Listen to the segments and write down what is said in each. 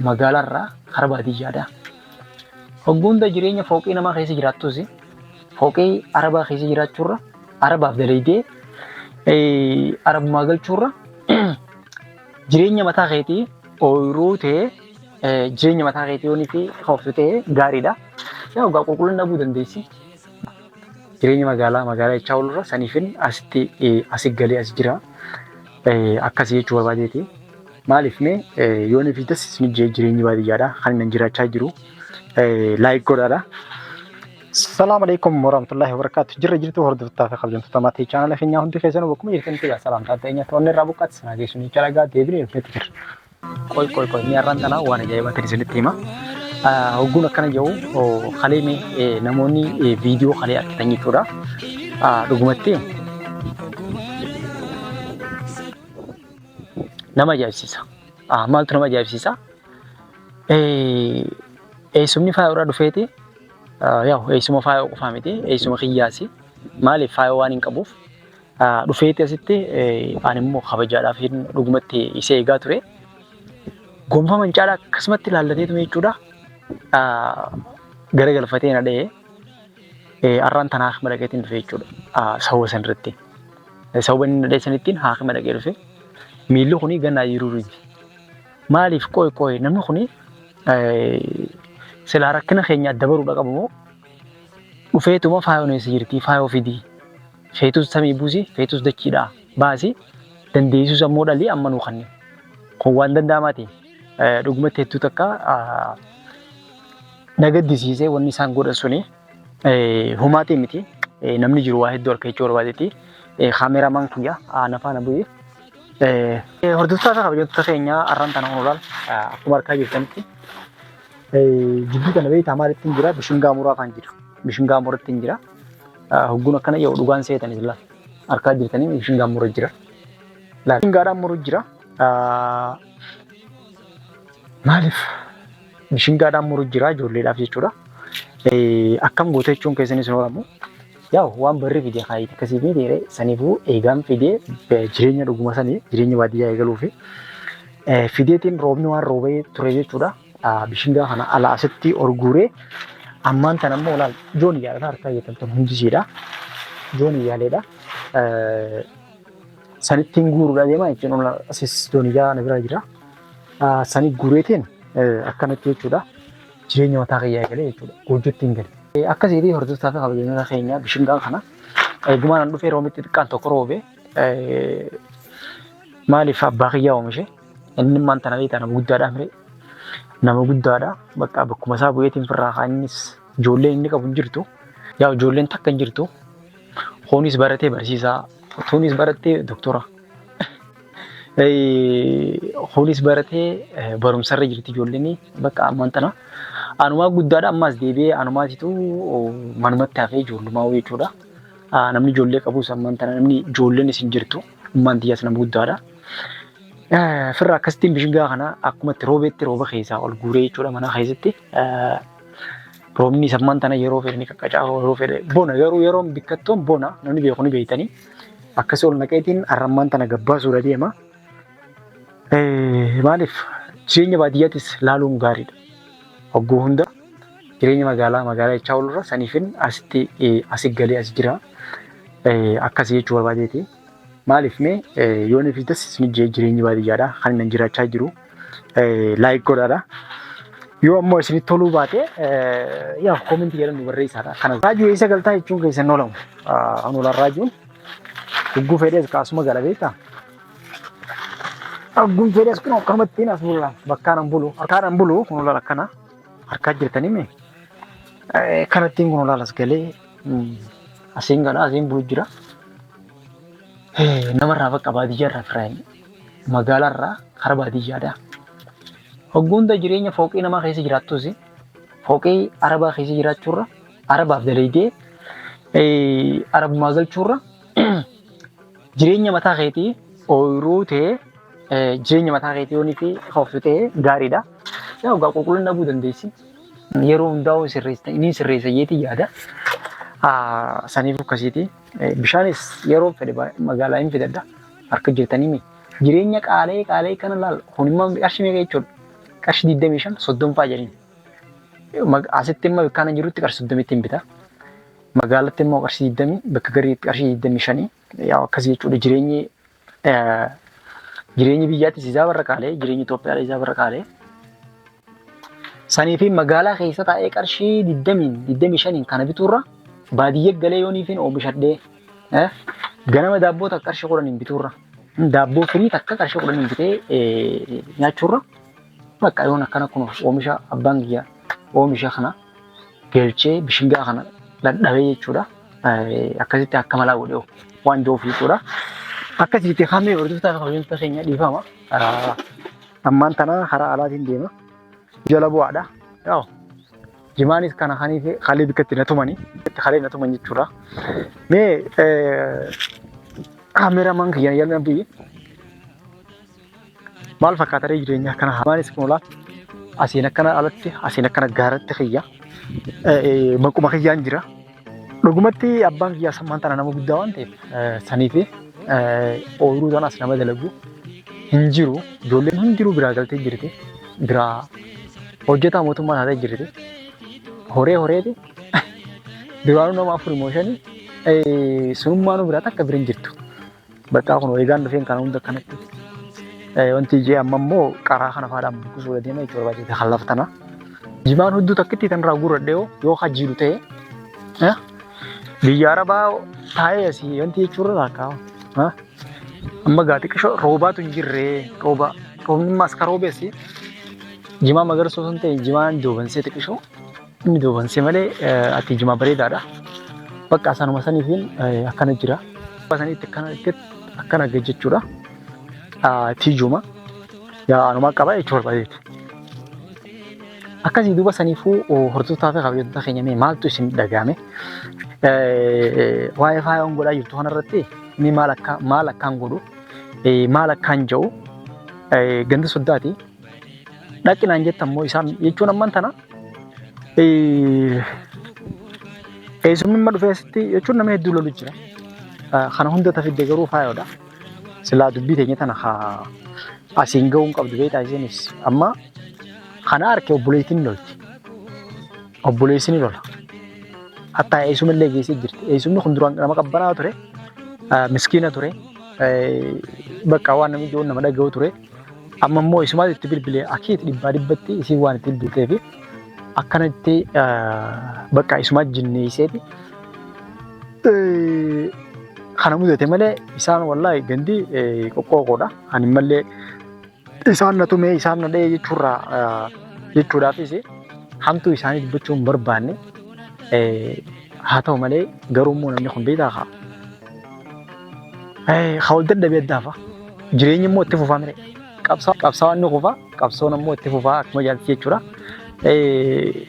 Magaalaa irraa karaa baadiyyaadha. Hogguunda jireenya fooqii namaa keessa jiraattus fooqii arabaa keessa jiraachuurra arabaaf dalaydee arabumaa galchuurra jireenya mataa keetii ooyiruu ta'ee jireenya mataa keetii yoonii fi hooftu ta'e gaariidha. Yaa dhugaa qulqullina dhabuu dandeessi. Jireenya magaalaa magaalaa jechaa oolurra saniifin asitti asi galee as jira. Akkasii jechuu barbaadeeti. Maaliif mee yoonii fi tas isin jee jireenyi baadiyyaadha kan inni jiraachaa jiru. Laayik godhaadha. Salaam alaikum warahmatullahi wabarakatuh. Jirra jirtu hordoftaa fi kabajamtoota maatii chaanala keenyaa hundi keessanuu bakkuma jirtanitti salaamtaa ta'e nyaata onnee irraa buqqaatti sanaa geessuun jecha dhagaa deebiin ilfeetti jirra. Qoy qoy qoy mee har'aan tanaa waan ajaa'ibaa ta'e isinitti hima. Hogguun akkana jedhu kalee mee namoonni viidiyoo kalee argitan jechuudha. Dhugumatti nama ajaa'ibsiisa. Maaltu nama ajaa'ibsiisa? Eessumni faayoo irraa dhufeeti. Yaa'u eessuma faayoo qofaa miti. Eessuma kiyyaasi. Maaliif faayoo waan hin qabuuf Dhufeeti asitti ani immoo kabajaadhaaf dhugumatti isa eegaa ture. Gonfama hin caalaa akkasumatti ilaallateetu jechuudha. Gara galfatee na dha'ee har'aan tan haakima dhaqeetiin dhufe jechuudha. Sababa san irratti. Sababa inni na dha'e sanittiin haakima dhaqee dhufe. Miilli kuni ganna ayyiruu miti. Maaliif qoy qoy namni kuni silaa rakkina keenya adda baruudha qabamoo dhufeetuma faayoo neessa jirti faayoo fidii. Feetus samii buusi, feetus dachiidhaa baasi, dandeessus ammoo dhali amma nuu kanni. Kun waan danda'amaati. Dhugumatti hedduu takka na gaddisiise wanni isaan godhan suni. Humaatii miti. Namni jiru waa hedduu harka jechuu barbaadeeti. Kaameramaan kiyya na faana bu'e. Hordoftoota fi kabajamtoota keenya arraan tana honoraal akkuma harkaa jirtanitti jidduu kana beektaa maalittiin jira bishingaa muraa faan jiru. Bishingaa murattiin jira. Hogguun akkana jedhu dhugaan seetan isla harkaa jirtanii mishingaan mura jira. Mishingaadhaan muru jira. Maaliif mishingaadhaan muru jira ijoolleedhaaf jechuudha. Akkam gootee jechuun keessanis hin horamu. Yaa waan barri fide kaayiti akkasii fi dheeree saniifuu eegaan fidee jireenya dhuguma sanii jireenya baadiyyaa eegaluu fi fideetiin roobni waan roobee ture jechuudha. bishingaa kana ala asitti orguuree ammaan tan ammoo laal joon iyyaalata harkaa jettan tun hundisiidha joon iyyaaleedha sanittiin guuruudha deemaa jechuun asis joon iyyaa na bira jira sanii guureetiin akkanatti jechuudha jireenya mataa kiyyaa galee jechuudha goojjottiin gale. Akkasiitii hordoftaa fi kabajamtoota keenya bishingaa kana eegumaan an dhufee roomitti xiqqaan tokko roobee maaliif abbaa kiyyaa oomishe Innimmaan tana beektaa nama guddaadha mire. Nama guddaadha. Bakka bakkuma isaa bu'eetiin firraa kaannis ijoolleen inni qabu hin jirtu. Yaa ijoolleen takka hin jirtu. Kunis baratee barsiisaa. Tunis barattee doktora. Kunis baratee barumsarra jirti ijoolleen bakka ammaan tana. Anumaa guddaadha ammaas deebi'ee anumaatitu manumatti hafee ijoollumaa jechuudha. Namni ijoollee qabus ammaan tana namni ijoolleen isin jirtu. Ummaan tiyyaas nama guddaadha. Firra akkasittiin bishingaa kana akkuma itti roobeetti rooba keessaa ol guuree jechuudha mana keessatti. Roobni sammaan tana yeroo fedhe ni qaqqacaa yeroo fedhe bona garuu yeroon bikkattoon bona namni beeku ni beektanii akkasii ol naqeetiin arrammaan tana gabbaasuudha deema. Maaliif jireenya baadiyyaattis laaluun gaariidha. Hogguu hunda Jireenya magaalaa magaalaa jechaa oolurra saniifin asitti asi galee asi jira akkasi jechuu barbaadeeti. Maaliif mee yoon fi das isin jee jireenyi baadiyyaadha kan inni jiraachaa jiru laayik godhaadha. Yoo ammoo isinitti toluu baate yaa koominti jedhan nu barreessaadha. Kana raajuu eessa galtaa jechuun keessan oolamu. An olaan raajuun hogguu fedhees kaasuma gala beektaa. Hogguu fedhees kun akkanumattiin as bulaan bakkaan an bulu harkaan an bulu kun olaan akkana. Harkaa jirtanii mee? Eh, Kanattiin kun olaalas galee mm, asiin galaa asiin bulu jira. Eh, Namarraa bakka baadiyyaarraa firaa hin magaalaarraa kara baadiyyaadhaa. Hogguunda jireenya fooqii namaa keessa jiraattus fooqii arabaa keessa jiraachuurra arabaaf dalaydee eh, arabummaa galchuurra Jireenya mataa keetii ooyiruu ta'ee eh, jireenya mataa keetii yoonii fi hooftu ta'ee gaariidha. Yaa ogaa qulqullina dhabuu dandeessi. Yeroo hundaa'uu sirreessa inni sirreessa jeetii yaada. Ah, Saniif akkasiiti. Eh, Bishaanis yeroo fedhe ba- magaalaa hin fidadha. Harka jirtanii mi? Jireenya qaalee qaalee kana laal. Kun immoo qarshii meeqa jechuudha? Qarshii 25 30 fa'aa jedhani. Mag- Asitti immoo kana jirutti qarshii 30 ittiin bita. Magaalatti immoo qarshii 20 bakka gariitti qarshii 25 yaa akkas jechuudha jireenyi jireenyi biyyaattis isaa barra qaalee jireenyi Itoophiyaa isaa barra qaalee. Sanii fi magaalaa keessa taa'ee qarshii 20 25 kana bituurra baadiyyaa galee yooniifiin oomishadhee ganama daabboo takka qarshii 10 bituurra daabboo firii takka qarshii 10 bitee nyaachuurra bakka yoon akkana kun oomisha abbaan kiyya oomisha kana Gelchee bishingaa kana dhadhabee jechuudha. Akkasitti akka malaa godhee waan jiruuf jechuudha. Akkasitti hamee hordoftaa fi kabajamtoota keenya dhiifama. Ammaan tana karaa alaatiin deema. Jala bu'aadha. Yaa'u jimaanis kana kaniif kalee bikkatti na tumani. Bikkatti kalee na tuman jechuudha. Mee kaameramaan kiyya yaalna biyyi. maal fakkaata ree jireenya akkana hamaanis kun olaa asiin akkana alatti asiin akkana gaaratti kiyya maquma kiyyaan jira. Dhugumatti abbaan kiyyaa sammaan tana nama guddaa waan ta'eef sanii fi ooyiruu sana as nama dalagu hin jiru ijoolleen hundinuu biraa galtee jirti biraa hojjetaa mootummaa taatee jirti horee horeeti duraanuu nama afur moo shanii sunummaanuu biraa takka bira hin jirtu. Bakkaa kun eegaan dhufeen kana hunda kanatti wanti ijee amma immoo qaraa kana faadhaan buqqisuu dha deema jechuudha baay'ee kan laftana. Jimaan hudduu takkitti tan irraa guurradhe yoo yoo hajjiiru ta'e biyya arabaa taa'ee asii wanti jechuurra laakkaa. Amma gaati qishoo roobaatu hin jirree rooba roobni immoo as ka roobeessi jimaa magarsoo sun ta'e jimaan joobansee xiqishoo Inni duubansi malee ati jimaa bareedaadha. Bakka asaanuma saniitiin akkana jira. Bakka saniitti akkana itti akkana gad jechuudha. Tiijuma yaa anumaa qaba jechuu barbaadeeti. Akkasii duuba saniifuu hordoftoota fi kabajattoota keenya mee maaltu isin dhaga'ame? Waa'ee faayoon godhaa jirtu kanarratti inni maal akka maal akkaan godhu maal akkaan ja'u ganda soddaati. dhaqi naan jettan moo isaan jechuun amman tana eesumimma dhufee asitti jechuun nama hedduu lolu jira. Kana hunda tafidde garuu faayoodha. Silaa dubbii teenya tana haa asiin ga'uun qabdu beektaa isinis amma kana arke obboleettiin lolti. Obboleessi ni lola. Hatta eesuma illee geessee jirti. Eesumni kun duraan nama qabbanaa ture. Miskiina ture. Bakka waan namni nama dhaga'u ture. Amma immoo isumaatu itti bilbile akiit dhibbaa dhibbatti isiin waan itti bilbiltee fi akkanatti bakka isumaa jinneesseeti. Kana mudate malee isaan wallaahi gandi qoqqooqoodha. Ani malee isaan na tumee isaan na dha'ee jechuurraa jechuudhaafis hamtuu isaanii dubbachuun barbaanne Haa ta'u malee garuu immoo namni kun beektaa kaa. Haa ol dadhabee addaafa. Jireenyi immoo itti fufaa mire. Qabsaawaan ni kufa qabsoon immoo itti fufaa akkuma jaalti jechuudha.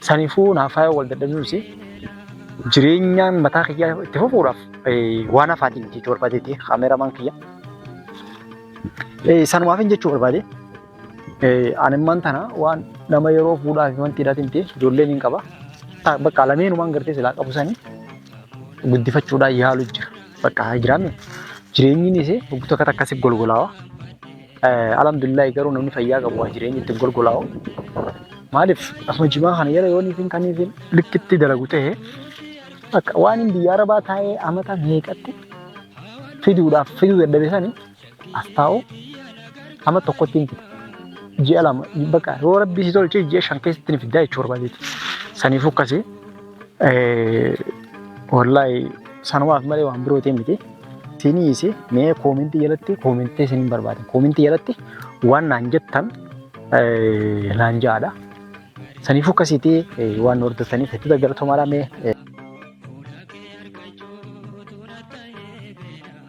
Saniifuu naafaa wal dadhabnuus jireenyaan mataa kiyyaa itti fufuudhaaf waan hafaatiin jechuu barbaadeeti kaameramaan kiyya. Sanumaafin jechuu barbaade. Animmaan tana waan nama yeroo fuudhaa fi wanti hidhatin ta'e ijoolleen hin qaba. Bakka lameenumaan gartee silaa qabu sanii guddifachuudhaan yaalu jira. Bakka haa jiraanne jireenyi ni isee hoggu takka takka si golgolaawa. Alhamdulillah garuu namni fayyaa qabu waa jireenyi ittiin golgolaawa. Maaliif asuma jimaa kana jala yoo niitiin kan niitiin likkitti dalagu ta'e bakka waan hin biyya arabaa taa'ee amata meeqatti fiduudhaaf fiduu dadhabe sanii as taa'u hama tokkotti hin fida. Ji'a lama bakka yoo rabbi si tolche ji'a shan keessatti ni fidda jechuu barbaadeeti. Saniif akkasi wallaahi sanumaaf malee waan biroo ta'e miti. Siniis mee koomentii jalatti koomentii isin hin barbaade. Koomentii jalatti waan naan jettan naan ja'aadha. Saniif akkasiiti waan hordofaniif hedduu galatoomaa mee.